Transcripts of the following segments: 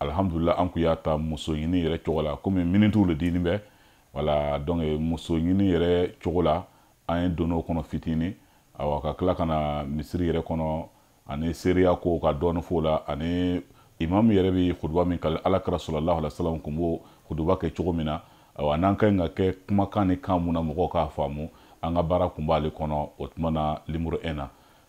alhamdulila an kun y'a ta muso ɲini yɛrɛ cogo la komi minitiw le dilen bɛ voilà donc muso ɲini yɛrɛ cogo la an ye don o kɔnɔ fitini awa ka tila ka na misiri yɛrɛ kɔnɔ ani seereya ko ka dɔɔni f'o la ani imamu yɛrɛ bɛ kuduba min kalan ala kira sallallahu alaihi wasallam kun b'o kuduba kɛ cogo min na awa n'an ka ɲi ka kɛ kumakan ni kan min na mɔgɔw k'a faamu an ka baara kun b'ale kɔnɔ o tuma na limuru 1 na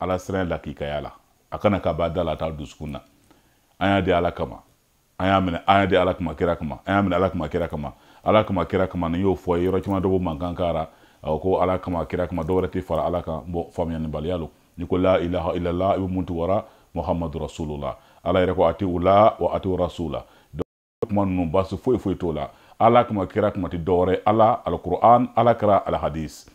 ala siran lakikaya la a kana kɛ a b'a da la a t'a dusukun na an y'a di ala kama an y'a minɛ an y'a di ala kama kira kama an y'a minɛ ala kama kira kama ala kama kira kama n'i y'o fɔ yɔrɔ caman dɔ b'o mankan kɛra ko ala kama kira kama dɔwɛrɛ tɛ fara ala kan bon faamuyalibaliya lo n'i ko la ilaha illallah i bɛ mun tugura muhammadu rasulullah ala yɛrɛ ko ati ula wa ati rasula kuma ninnu baasi foyi foyi t'o la ala kama kira kama tɛ dɔwɛrɛ ala alquran ala kira alhadis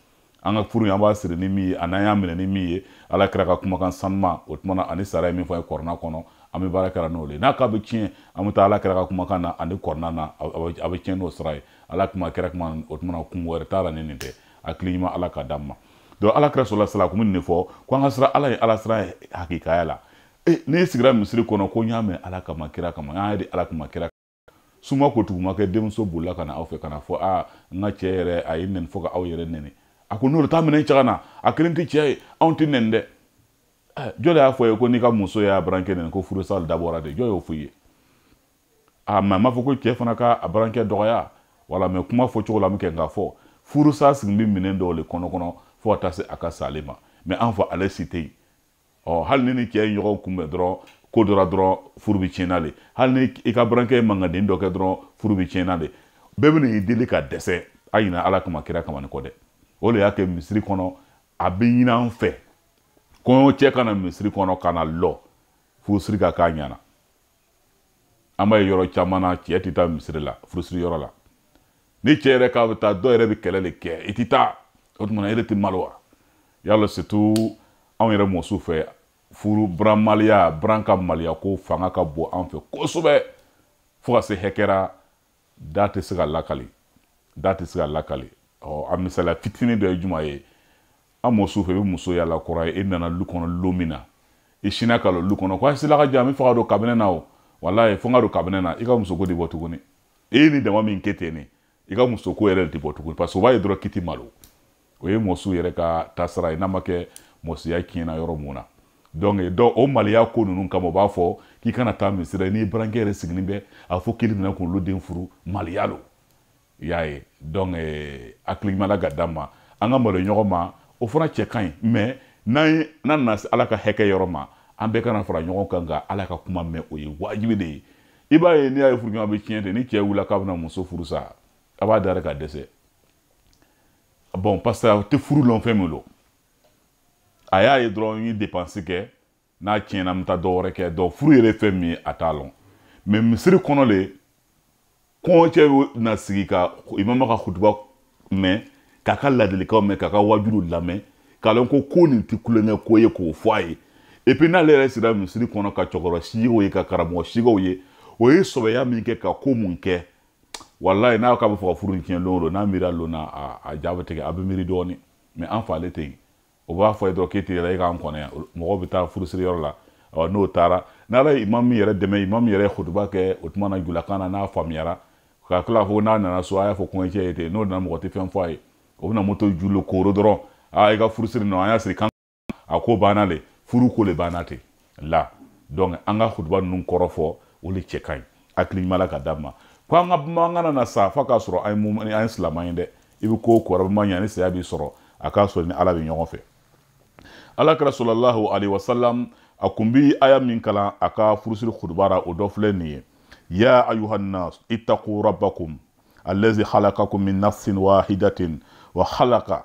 an ka furu an b'a siri ni min ye a n'an y'a minɛ ni min ye ala kira ka kumakan sanuma o tuma na ani ala ye min fɔ an ye kurana kɔnɔ an bɛ baara kɛra n'o de ye n'a k'a bɛ tiɲɛ an bɛ taa ala kira ka kumakan na ani kurana na a bɛ tiɲɛ n'o sira ye ala kama kira kama o tuma na kun wɛrɛ t'a la ni nin tɛ hakili ɲuman ala ka d'an ma donc ala kira sɔlɔla salam kun bɛ nin de fɔ ko an ka siran ala ye ala siran ye hakikaya la e n'i sigira misiri kɔnɔ ko n y'a minɛ ala kama kira kama n y'a di ala kama kira suma ko tuguma kɛ denmuso bolila ka na aw fɛ ka na fɔ a n ka cɛɛ yɛrɛ a ye n nɛni fɔ ka aw yɛrɛ nɛni a ko n'olu t'a minɛ cɛ ka na a kelen tɛ cɛɛ ye anw tɛ nɛni dɛ jɔn de y'a fɔ ye ko n'i ka muso y'a burankɛ nɛni ko furusa dabɔra de jɔn y'o fɔ i ye a mɛ a m'a fɔ ko cɛɛ fana ka a burankɛ dɔgɔya wala mɛ kuma fɔ cogo la min kɛ nka fɔ furusa sigilen bɛ minɛn dɔw le kɔnɔ kɔnɔ fo ka taa se a ka sa le ma mɛ an fɔ ale si tɛ yen ɔ hali ni ni cɛ ye ɲɔgɔn kunbɛn dɔrɔn ko dɔ ra dɔrɔn furu bɛ tiɲɛna de hali ni i ka burankɛ ye mankan den dɔ kɛ dɔrɔn furu bɛ tiɲɛna de bɛɛ bɛ n'i deli ka dɛsɛ a ɲina ala kama kira kama nin kɔ dɛ o de y'a kɛ misiri kɔnɔ a bɛ ɲini an fɛ kɔɲɔcɛ ka na misiri kɔnɔ ka na lɔ furusiri ka k'a ɲɛ na an b'a ye yɔrɔ caman na cɛ tɛ taa misiri la furusiri yɔrɔ la ni cɛ yɛrɛ k'a bɛ taa dɔw yɛrɛ bɛ kɛlɛ de kɛ i tɛ taa o tuma e de tɛ malo wa y'a lɔn surtout anw yɛrɛ mɔsiw fɛ furu buran maloya buran ka maloya ko fanga ka bon an fɛ kosɛbɛ fo ka se hakɛ ra da tɛ se ka lakali da tɛ se ka lakali ɔ a misaliya fitini dɔ ye juman ye an mɔsiw fɛ i bɛ muso yaala kɔrɔ ye e nana lu kɔnɔ lu min na i sinna ka lu kɔnɔ ko a sila ka jan a b'a fɛ ka don kabinɛ na o walayi fo n ka don kabinɛ na i ka musoko tɛ bɔ tuguni e ye nin damanin kɛ ten de i ka musoko yɛrɛ tɛ bɔ tuguni parce que o b'a ye dɔrɔn k'i tɛ malo o ye mɔsiw yɛrɛ ka taasira ye n'a ma kɛ mɔsiya tiɲɛna yɔrɔ mun na donc dɔn o maliya ko ninnu kama o b'a fɔ k'i kana taa misiri n'i barankɛ yɛrɛ sigilen bɛ a fɔ k'i bɛna k'olu den furu maliya lo i y'a ye donc hakili ɲuman ala ka d'an ma an ka malo ɲɔgɔn ma o fana cɛ ka ɲi mais n'an ye n'an nana se ala ka hakɛ yɔrɔ ma an bɛɛ ka na fara ɲɔgɔn kan ka ala ka kuma mɛn o ye wajibi de ye i b'a ye n'i y'a ye furuɲɔgɔn bɛ tiɲɛ de ni cɛ wulila k'a bɛna muso furu sa a b'a da ka dɛsɛ bon parce que a tɛ furu lɔn fɛn min lo a y'a ye dɔrɔn n ye depansi kɛ n'a tiɲɛna n bɛ taa dɔ wɛrɛ kɛ donc furu yɛrɛ fɛn min ye a t'a lɔn mais misiri kɔnɔ le kɔɲɔcɛ na sigi ka imama ka kutuba mɛn k'a ka ladilikanw mɛn k'a ka wajuliw lamɛn k'a lɔn ko nin tɛ tulonkɛ ko ye k'o fɔ a ye et puis n'ale yɛrɛ sera misiri kɔnɔ ka cɛkɔrɔba sigiw ye ka karamɔgɔ sigiw ye o ye sɔbɛya min kɛ ka ko mun kɛ walayi n'a k'a bɛ fɛ ka furu in tiɲɛ don o don n'a miiri lon na a ja bɛ tigɛ a bɛ miiri dɔɔni mais an fɛ ale tɛ yen o b'a f'a ye dɔrɔn k'e tɛ yɛlɛ e k'an kɔnɔ yan mɔgɔw bɛ taa furusiri yɔrɔ la ɔ n'o taara n'ala ye imam min yɛrɛ dɛmɛ imam yɛrɛ ye kutuba kɛ o tuma na julakan na n'a faamuyara ka tila ko n'a nana so a y'a fɔ kɔɲɔcɛ ye ten n'o nana mɔgɔ tɛ fɛn fɔ a ye o bɛna moto jɔ lu kɔnɔ dɔrɔn aa i ka furusiri nɔ an y'a siri kaban a ko banna le furu ko le banna ten la donc an ka hutuba ninnu kɔrɔ fɔ o le cɛ ka ɲi hakili ɲuman ala ka d'an ma ko an ka banba an kana sa f'a k'a sɔrɔ an ye mumini an ye silamɛ ye dɛ i bɛ ko o ko arabama ɲa ni saya b'i sɔrɔ a k'a sɔrɔ i ni ala bɛ ɲɔgɔn fɛ ala kira sallallahu alayhi wa salam a kun bi aya min kalan a ka furusiri kutuba ra o dɔ filɛ nin ye ya ayuhannas ittaqu rabbakum allazi khalaqakum min nafsin wahidatin wa khalaqa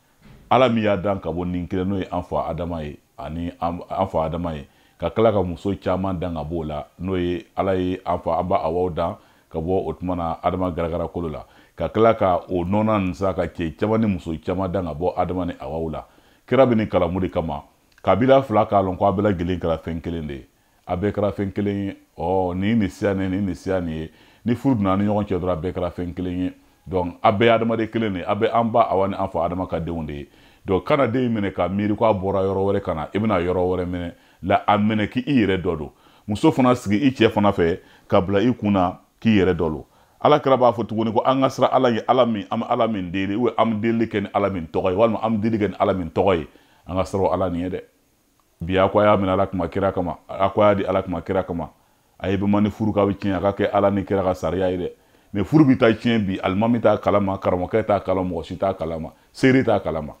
ala min y'a dan ka bɔ nin kelen n'o ye an fa adama ye ani an fa adama ye ka tila ka muso caman dan ka b'o la n'o ye ala ye an fa an ba awa dan ka bɔ o tuma na adama garagara kolo la ka tila ka o nɔnɔ nin sa ka cɛ caman ni muso caman dan ka bɔ adama ni awa la kira bɛ nin kalan mun de kama kabila fila k'a lɔn ko a bɛɛ lajɛlen kɛra fɛn kelen de ye a bɛɛ kɛra fɛn kelen ye ɔ nin nin siya nin nin nin siya nin ye ni furu donn'a ni ɲɔgɔn cɛ dɔrɔn a bɛɛ kɛra fɛn kelen ye donc a bɛɛ ye adamaden kelen de ye a bɛɛ an ba awa ni an fa adama ka denw de ye donc kana den in minɛ ka miiri ko a bɔra yɔrɔ wɛrɛ ka na i bɛna yɔrɔ wɛrɛ minɛ la a minɛ k'i i yɛrɛ dɔ don muso fana sigi i cɛ fana fɛ k'a bila i kun na k'i yɛrɛ dɔ don ala kira b'a fɔ tuguni ko an ka siran ala ye ala min an bɛ ala min deli ou an bɛ delili kɛ ni ala min tɔgɔ ye walima an bɛ delili kɛ ni ala min tɔgɔ ye an ka siran ala nin ye dɛ bi a ko a y'a minɛ ala kama kira kama a ko a y'a di ala kama kira kama a ye bɛn a ma ni furu ka bɛ tiɲɛ a ka kɛ ala ni kira ka sariya ye dɛ mais furu bɛ taa tiɲɛ bi alimami t'a kalama karamɔgɔkɛ t'a kalama mɔgɔ si t'a kalama seere t'a kalama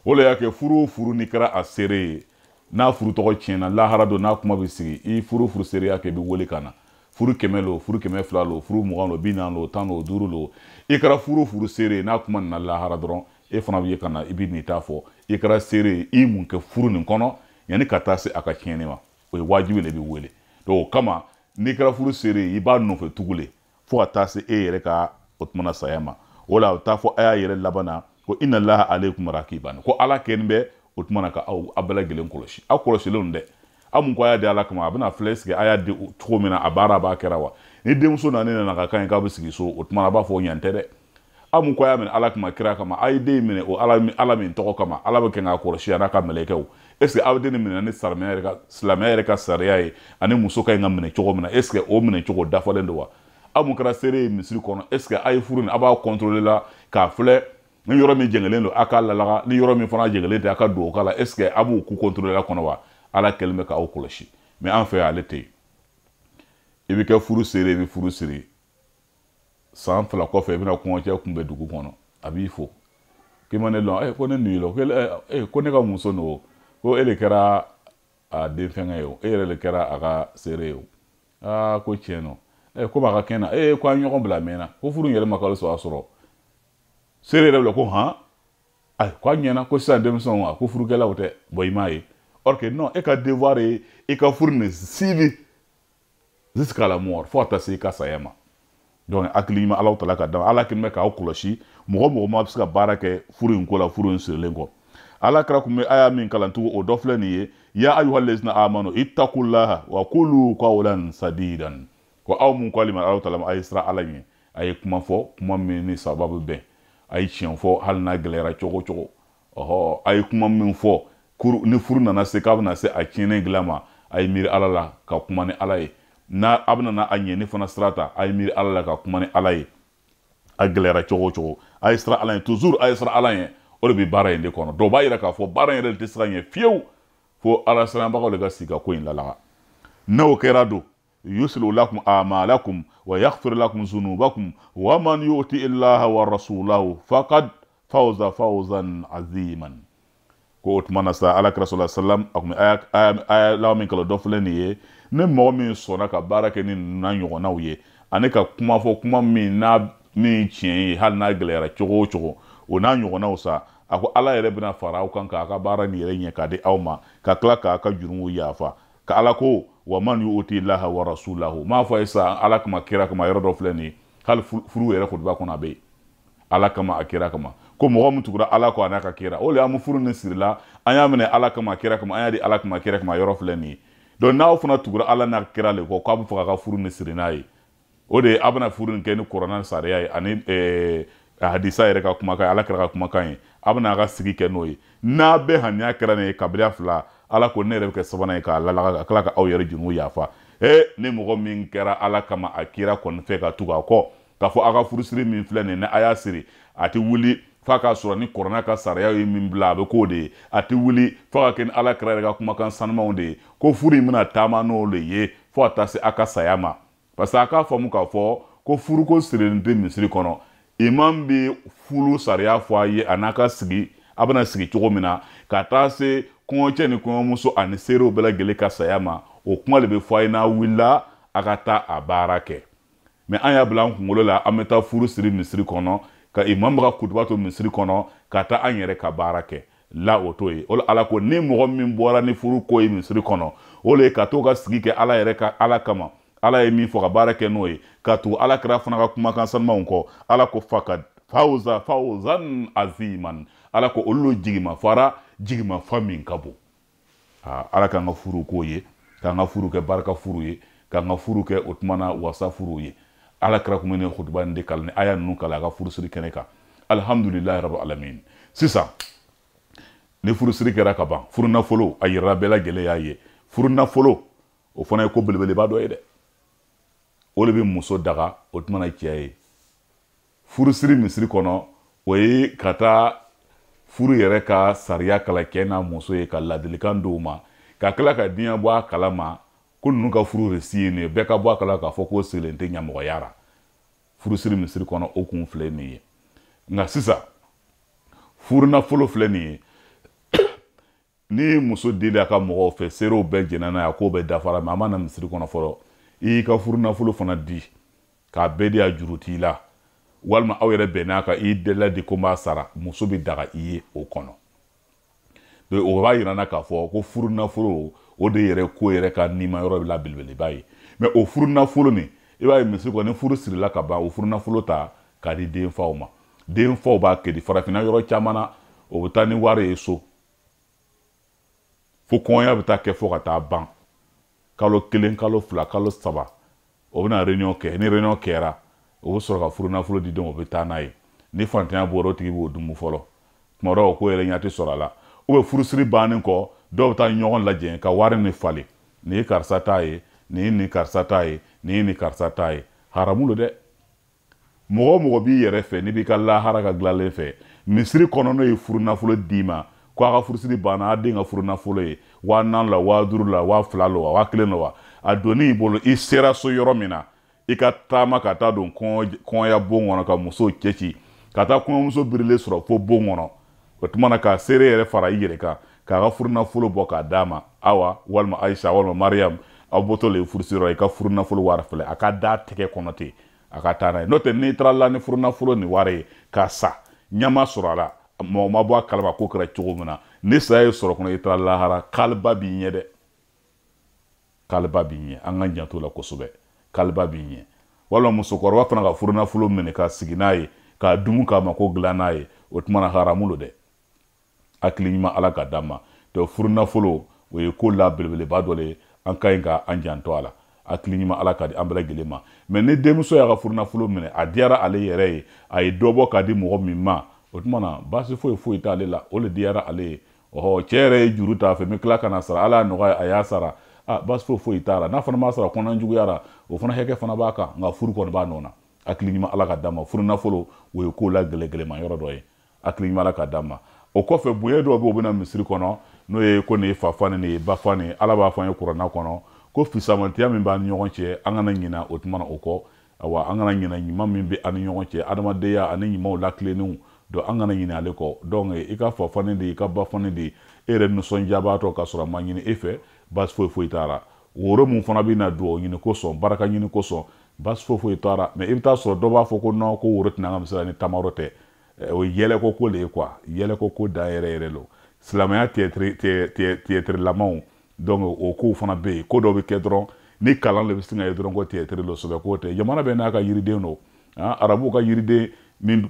o le y'a kɛ furu o furu n'i kɛra a seere ye n'a furu tɔgɔ tiɲɛna lahara don n'a kuma bɛ sigi i furu o furu seereya kɛ i bɛ wele ka na furu kɛmɛ lo furu kɛmɛ fila lo furu mugan lo bi naani lo tan lo duuru lo i kɛra furu o furu seere ye n'a kuma nana lahara dɔrɔn e fana bɛ ye ka na i bɛ n'i ta fɔ i kɛra seere ye i mun kɛ furu nin kɔnɔ yanni ka taa se a ka tiɲɛni ma o ye wajibi de bɛ wele donc o kama n'i kɛra furu seere ye i b'a nɔfɛ tugu le fo ka taa se e yɛrɛ ka o tumana saya ma o la a bɛ taa fɔ a y'a yɛrɛ laban na ko inna allaha alaykum rakiban ko ala kɛnin bɛ o tumana ka aw a bɛɛ lajɛlen kɔlɔsi aw kɔlɔsilen don dɛ a mun ko a y'a di ala kama a bɛna filɛ sigi a y'a di cogo min na a baara a b'a kɛra wa ni denmuso nana ne nana ka kan ye k'a bɛ sigi so o tuma a b'a fɔ o ɲan tɛ dɛ a mun ko a y'a minɛ ala kama kira kama a ye den minɛ o ala ala min tɔgɔ kama ala bɛ kɛ k'a kɔlɔsi a n'a ka mɛlɛkɛw est ce que aw den nin minɛ ni silamɛya yɛrɛ ka silamɛya yɛrɛ ka sariya ye ani muso ka ɲi ka minɛ cogo min na est ce que o minɛ cogo dafalen don wa aw mun kɛra seere ye misiri kɔnɔ est ce que a ye furu nin a b'a contrôler la k'a filɛ ni yɔrɔ min jɛngɛlen don a k'a lalaga ni yɔrɔ min fana jɛngɛlen tɛ a ka don o ka la est ce que a b'o ko contrôler la kɔni wa ala kɛlen bɛ k'aw kɔlɔsi mais an fɛ yan ale tɛ yen i bɛ kɛ furu seere i bɛ furu siri san fila kɔfɛ i bɛna kɔɲɔcɛ kunbɛn dugu kɔnɔ a b'i fo k'i ma ne lɔn ee ko ne nin lo ee ko ne ka muso n'o ko e de kɛra a den fɛngɛ ye o e yɛrɛ de kɛra a ka seere ye o aa ko tiɲɛ don ee ko b'a ka kɛnɛ ee ko an ɲɔgɔn bila mɛnna ko furu in yɛrɛ ma kalo saba sɔrɔ seere yɛrɛ bila ko han ayi ko a ɲɛna ko sisan denmisɛnw a ko furukɛlaw tɛ bɛn i m'a ye or que non e ka devoir ye i ka furu nin suivi jusqu'à la mort fo ka taa se i ka saya ma donc hakili ɲuman alahu taala ka d'a ma ala kɛlen bɛ k'aw kɔlɔsi mɔgɔ mɔgɔ ma bɛ se ka baara kɛ furu in ko la furu in sirilen kɔ ala kira kun bɛ aya min kalan tugun o dɔ filɛ nin ye ya ayuha lezina amanu itakulaha wa kulu kawlan sadidan ko aw mun k'ale ma alahu taala a ye siran ala ɲɛ a ye kuma fɔ kuma min ni sababu bɛ bɛn a ye tiɲɛ fɔ hali n'a gɛlɛyara cogo o cogo ɔhɔ a ye kuma min fɔ ni furu nana se k'a bɛna se a tiɲɛnen dilan ma a ye miiri ala la ka kuma ni ala ye n'a a bɛna a ɲɛni fana sira ta a ye miiri ala la ka kuma ni ala ye a gɛlɛyara cogo o cogo a ye siran ala ɲɛ toujours a ye siran ala ɲɛ o de bɛ baara in de kɔnɔ dɔw b'a yira k'a fɔ baara in yɛrɛ de tɛ se ka ɲɛ fiyewu fo ala siranbagaw de ka sigi ka ko in lalaga n'o kɛra don yuslih lakum amalakum wa yaghfir lakum dhunubakum wa man yuti'i llaha wa rasulahu faqad faza fawzan aziman ko o tuma na sa ala kira sallallahu alayhi wasallam a kun bɛ aya laban min kalan dɔ filɛ nin ye ni mɔgɔ min sɔnna ka baara kɛ ni ninnu n'a ɲɔgɔnnaw ye ani ka kuma fɔ kuma min n'a min tiɲɛ ye hali n'a gɛlɛyara cogo o cogo o n'a ɲɔgɔnnaw sa a ko ala yɛrɛ bɛna fara aw kan k'a ka baara nin yɛrɛ ɲɛ k'a di aw ma ka tila k'a ka jurumu yafa ka ala ko wa man yuti'i llaha wa rasulahu m'a fɔ a ye sisan ala kama kira kama yɔrɔ dɔ filɛ nin ye hali furu yɛrɛ kutuba kɔnɔ a bɛ yen ala kama a kira kama ko mɔgɔ min tugura ala kɔ a n'a ka kira o le an bɛ furu nin sirila an y'a minɛ ala kama kira kama an y'a di ala kama kira kama yɔrɔ filɛ nin ye donc n'aw fana tugura ala n'a kira le kɔ k'a bɛ fɛ k'a ka furu nin siri n'a ye o de ye a bɛna furu nin kɛ ni kuranɛ sariya ye ani eh, hadisa yɛrɛ ka kumakan ye ala kira ka kumakan ye a bɛna a ka sigi kɛ n'o ye n'a bɛɛ haniya kɛra nin ye kabila fila ala ko ne yɛrɛ bɛ kɛ sabanan ye k'a lalaga ka tila ka aw yɛrɛ junumu yafa e ni mɔgɔ min kɛra ala kama a kira kɔni fɛ ka tugu a kɔ k'a fɔ aw ka furusiri min filɛ nin ye ni a y'a siri a tɛ wuli f'a k'a sɔrɔ ni kuranɛ ka sariya ye min bila a bɛ k'o de ye a tɛ wuli f'a ka kɛ ni ala kira yɛrɛ ka kumakan sanumanw de ye ko furu in bɛna taama n'o de ye fo ka taa se a ka saya ma parce que a k'a faamu k'a fɔ ko furuko sirilen tɛ misiri kɔnɔ imam bɛ furu sariya fɔ a ye a n'a ka sigi a bɛna sigi cogo min na ka taa se kɔɲɔcɛ ni kɔɲɔmuso ani seerew bɛɛ lajɛlen ka saya ma o kuma de bɛ fɔ a ye n'a wulila a ka taa a baara kɛ mɛ an y'a bila an kunkolo la an bɛ taa furu siri misiri kɔnɔ ka imam ka kutuba to misiri kɔnɔ ka taa an yɛrɛ ka baara kɛ la o to ye o la ala ko ni mɔgɔ min bɔra ni furu ko ye misiri kɔnɔ o le ka to ka sigi kɛ ala yɛrɛ ka ala kama ala ye min fɔ ka baara kɛ n'o ye ka tugu ala kira fana ka kumakan sanumanw kɔ ala ko fakad fawza fawzan aziman ala ko olu jigima fara jigima fa min ka bon aa ala k'an ka furu k'o ye k'an ka furu kɛ barika furu ye k'an ka furu kɛ o tuma na wasa furu ye ala kira kun bɛ nin kutuba nin de kalan ni aya ninnu kalan a ka furusiri kɛnɛ kan alihamudulilayi rabi alamin sisan ni furusiri kɛra ka ban furunafolo a yirala bɛɛ lajɛlen y'a ye furunafolo o fana ye ko belebeleba dɔ ye dɛ o de bɛ muso daga o tuma na cɛ ye furusiri misiri kɔnɔ o ye ka taa furu yɛrɛ ka sariya kalan cɛ n'a muso ye ka ladilikan d'u ma ka tila ka diɲɛ bɔ a kalama ko ninnu ka furu resi ye nin ye bɛɛ ka bɔ a kala k'a fɔ k'o sigilen tɛ ɲamɔgɔya ra furusiri misiri kɔnɔ o kun filɛ nin ye nka sisan furunafolo filɛ nin ye ni muso deli a ka mɔgɔw fɛ seerew bɛɛ jɛnna n'a ye a k'o bɛɛ dafara mɛ a ma na misiri kɔnɔ fɔlɔ i y'i ka furunafolo fana di k'a bɛɛ di a juru t'i la walima aw yɛrɛ bɛnn'a kan i tila di ko n b'a sara muso bɛ daga i ye o kɔnɔ donc o b'a yira an na k'a fɔ ko furunafolo o de yɛrɛ ko yɛrɛ ka nima yɔrɔ la belebeleba ye mɛ o furunafolo nin i b'a ye misiri kɔnɔ ni furu sirila ka ban o furunafolo ta k'a di denfaw ma denfaw b'a kɛ di farafinna yɔrɔ caman na o bɛ taa ni wari ye so fo kɔɲɔya bɛ taa kɛ fo ka taa ban kalo kelen kalo fila kalo saba o bɛna réunion kɛ ni réunion kɛra o bɛ sɔrɔ ka furunafolo di denw o bɛ taa n'a ye ni fantanya b'o ra o tigi b'o dumu fɔlɔ tuma dɔw o ko yɛrɛ ɲɛ tɛ sɔrɔ a la u bɛ furusiri bannen kɔ dɔw bɛ taa ɲɔgɔn lajɛ ka wari nin falen nin ye karisa ta ye nin ye nin karisa ta ye nin ye nin karisa ta ye haramu don dɛ mɔgɔ o mɔgɔ b'i yɛrɛ fɛ n'i b'i ka lahara ka dilanlen fɛ misiri kɔnɔ n'o ye furunafolo d'i ma ko a ka furusiri banna a den ka furunafolo ye waa naani la waa duuru la waa fila lo wa waa kelen lo wa a donni i bolo i sera so yɔrɔ min na i ka taama ka taa don kɔɲɔya bon kɔnɔ ka musow cɛci ka taa kɔɲɔmuso birilen sɔrɔ fo bon kɔnɔ o tuma na ka seere yɛrɛ fara i yɛrɛ kan k'a ka furunafolo bɔ k'a d'a ma awa walima ayisa walima mariyamu aw bɔtɔ le furusiriyɔrɔ i ka furunafolo wari filɛ a k'a d'a tɛgɛ kɔnɔ ten a ka taa n'a ye n'o tɛ n'i taara la ni furunafolo ni wari ye k'a sa ɲama sɔrɔ a la mɔgɔ ma bɔ a kalama k'o kɛra cogo min na ni saya y'i sɔrɔ o kɔnɔ i taara lahara kaliba b'i ɲɛ dɛ kaliba b'i ɲɛ an k'an janto o la kosɛbɛ kaliba b'i ɲɛ walima musokɔrɔba fana ka furunafolo minɛ ka sigi n'a ye k'a dumu k'a mako dilan n'a ye o tuma na haramu lo dɛ hakili ɲuman ala k'a d'an ma donc furunafolo o ye ko la belebeleba dɔ le ye an ka ɲi ka an janto a la hakili ɲuman ala k'a di an bɛɛ lajɛlen ma mɛ ni denmuso y'a ka furunafolo minɛ a diyara ale yɛrɛ ye a ye dɔ bɔ k'a di mɔgɔ min ma o tuma na baasi foyi foyi t'ale la o le diyara ale ye ɔhɔ cɛ yɛrɛ ye juru t'a fɛ n bɛ tila ka n'a sara ala y'a nɔgɔya a y'a sara a baasi foyi foyi t'a la n'a fana m'a sara kɔnɔna juguyara o fana hakɛ fana b'a kan nka furu kɔni b'a nɔ na hakili ɲuman ala k'a d'an ma furu nafolo o ye ko la gɛlɛgɛlɛma yɔrɔ dɔ ye hakili ɲuman ala k'a d'an ma o kɔfɛ bonya dɔw bɛ o bɛ na misiri kɔnɔ n'o ye ko nin ye fa fani nin ye ba fani ala b'a fɔ an ye kurana kɔnɔ ko fisamantiya min b'an ni ɲɔgɔn cɛ an kana ɲina o tuma na o kɔ awa an kana ɲina ɲuman min bɛ an ni ɲɔgɔn cɛ adamadenya ani ɲumanw latilennenw donc an kana ɲina ale kɔ donc i ka fa fani di i ka ba fani di e yɛrɛ nisɔndiyabaatɔ k'a sɔrɔ a ma ɲini e fɛ baasi foyi foyi t'a la woro min fana bɛ na dugawu ɲini kosɔn baraka ɲini kosɔn baasi foyi foyi t'a la mɛ i bɛ taa sɔrɔ dɔ b'a fɔ ko non ko woro tɛ na an ka misiri la ni tamaro tɛ eh, o ye yɛlɛko ko de ye quoi yɛlɛko ko dan yɛrɛ yɛrɛ lo silamɛya tiyɛtirilamaw donc o kow fana bɛ yen ko dɔ bɛ kɛ dɔrɔn ni kalan de bɛ sin k'a ye dɔrɔn ko tiyɛtiri don sɛbɛ ko tɛ jamana bɛɛ n'a ka yiriden don ah, arabuw ka yiriden min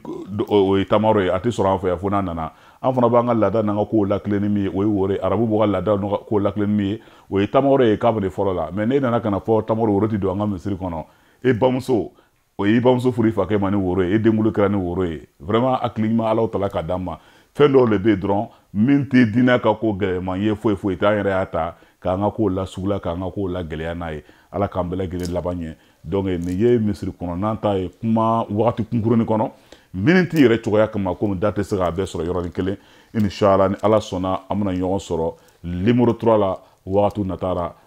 o ye tamaro ye a tɛ sɔrɔ an fɛ yan fo n'a nana an fana b'an ka laada n'an ka kow latilen ni min ye o ye woro ye arabuw b'u ka laada n'u ka kow latilen ni min ye o ye tamaro ye kabini fɔlɔ la mɛ n'e nana ka n'a fɔ tamaro woro ti don an ka misiri kɔnɔ e bamuso o y'i bamuso furu i fakɛ ma ni woro ye e denkunli kɛra ni woro ye vraiment hakili ɲuman alahu tala k'a d'an ma fɛn dɔw le bɛ yen dɔrɔn min tɛ diinɛ ka ko gɛlɛman ye foyi foyi tɛ an yɛrɛ y'a ta k'an ka kow lasugula k'an ka kow lagɛlɛya n'a ye ala k'an bɛɛ lajɛlen laban ɲɛ donc nin ye misiri kɔnɔnan ta ye kuma wagati kunkurunin kɔnɔ miniti yɛrɛ cogoya kama komi da tɛ se k'a bɛɛ sɔrɔ yɔrɔnin kelen inshallah ni ala sɔnna an bɛna ɲɔgɔn sɔrɔ numéro trois la wagati nata ra